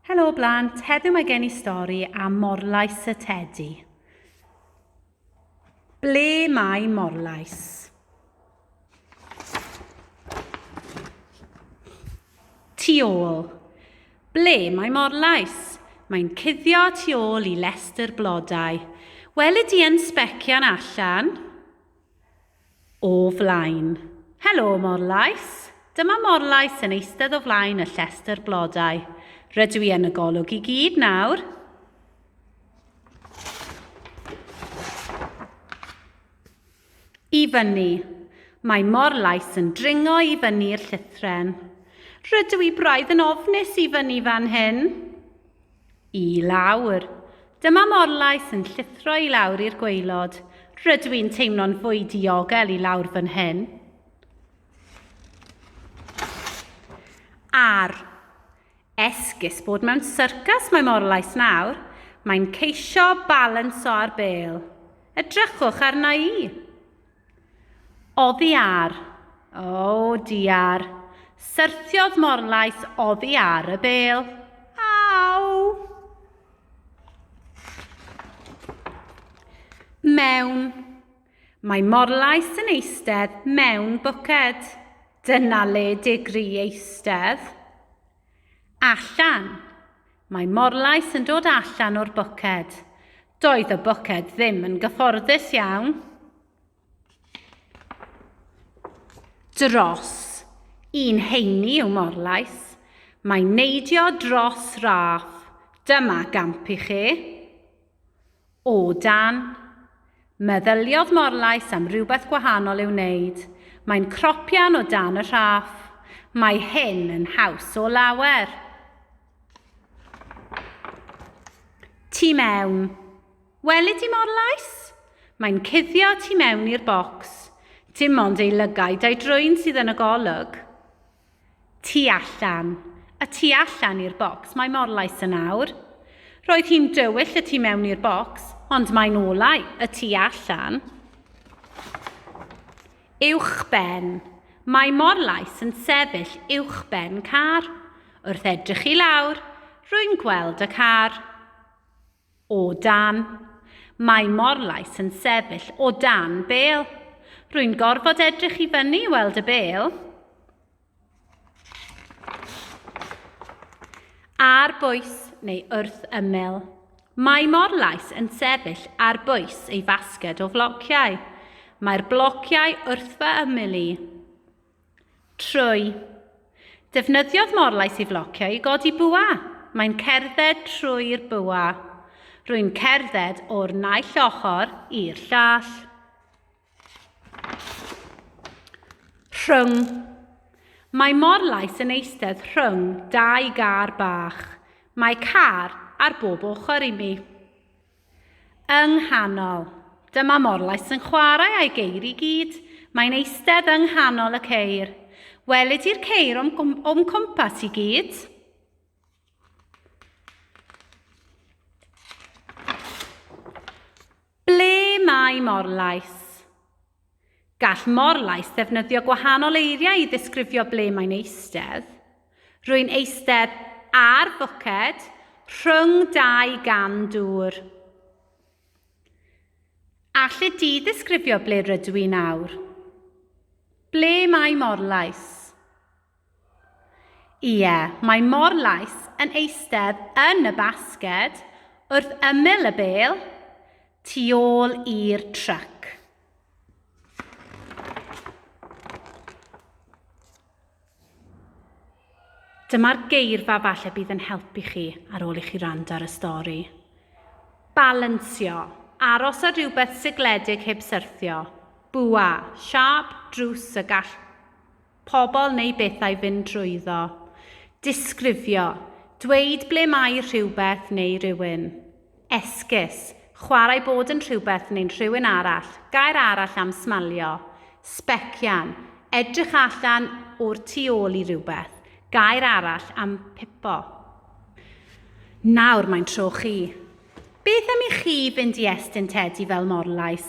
Helo blant, heddiw mae gen i stori am Morlais y Tedi. Ble mae Morlais? Tu ôl. Ble mae Morlais? Mae'n cuddio tu ôl i lestr blodau. Weli di yn sbecian allan? o flaen. Helo, Morlais! Dyma Morlais yn eistedd o flaen y llestr blodau. Rydw i yn y golwg i gyd nawr. I fyny. Mae Morlais yn dringo i fyny'r llythren. Rydw i braidd yn ofnus i fyny fan hyn. I lawr. Dyma morlais yn llithro i lawr i'r gwaelod. Rydw i'n teimlo'n fwy diogel i lawr fan hyn. Ar. Esgus bod mewn syrcas mae morlais nawr. Mae'n ceisio balansio ar bêl. Edrychwch arna i. Oddi ar. O, diar. Syrthiodd Morlais oddi ar y bel. Mewn. Mae Morlais yn eistedd mewn bwced. Dyna le digri eistedd. Allan. Mae Morlais yn dod allan o'r bwced. Doedd y boced ddim yn gyfforddus iawn. Dros. Un heini yw morlais. Mae neidio dros raff. Dyma gamp i chi. O dan. Meddyliodd morlais am rhywbeth gwahanol i'w wneud. Mae'n cropian o dan y rhaff. Mae hyn yn haws o lawer. Tu mewn. Weli di mor lais? Mae'n cuddio tu mewn i'r bocs. Dim ond ei lygaid a'i drwyn sydd yn y golwg. Tu allan. Y tu allan i'r bocs, mae mor lais yn awr. Roedd hi'n dywyll y tu mewn i'r bocs, ond mae'n olau y tu allan. Uwchben. Mae Morlais yn sefyll uwchben car. Wrth edrych i lawr, rwy'n gweld y car. O dan. Mae Morlais yn sefyll o dan bêl. Rwy'n gorfod edrych i fyny i weld y bêl. Ar bwys neu wrth ymyl. Mae Morlais yn sefyll ar bwys ei fasged o flociau. Mae'r blociau wrth fy ymyl i. Trwy. Defnyddiodd Morlais ei flociau i godi bwa. Mae'n cerdded trwy'r bwa. Rwy'n cerdded o'r naill ochr i'r llall. Rhwng. Mae morlais yn eistedd rhwng dau gar bach. Mae car ar bob ochr i mi. Yng nghanol. Dyma morlais yn chwarae a'i geir i gyd. Mae'n eistedd yng nghanol y ceir. Welid i'r ceir o'm, o'm cwmpas i gyd. Ble mae morlais? Gall morlais ddefnyddio gwahanol eiriau i ddisgrifio ble mae'n eistedd. Rwy'n eistedd ar fwced rhwng dau gan dŵr. Allet ti ddisgrifio ble rydw i nawr? Ble mae morlais? Ie, mae Morlais yn eistedd yn y basged wrth ymyl y bêl, tu ôl i'r tryc. Dyma'r geirfa falle bydd yn helpu chi ar ôl i chi rand ar y stori. Balansio, aros ar rhywbeth sigledig heb syrthio, bwa, siâp, drws y gall pobl neu bethau fynd drwyddo. Disgrifio, dweud ble mae rhywbeth neu rywun. Esgus, chwarae bod yn rhywbeth neu'n rhywun arall, gair arall am smalio. Sbecian, edrych allan o'r tu ôl i rywbeth, gair arall am pipo. Nawr mae'n tro chi. Beth am i chi fynd i estyn tedi fel morlais?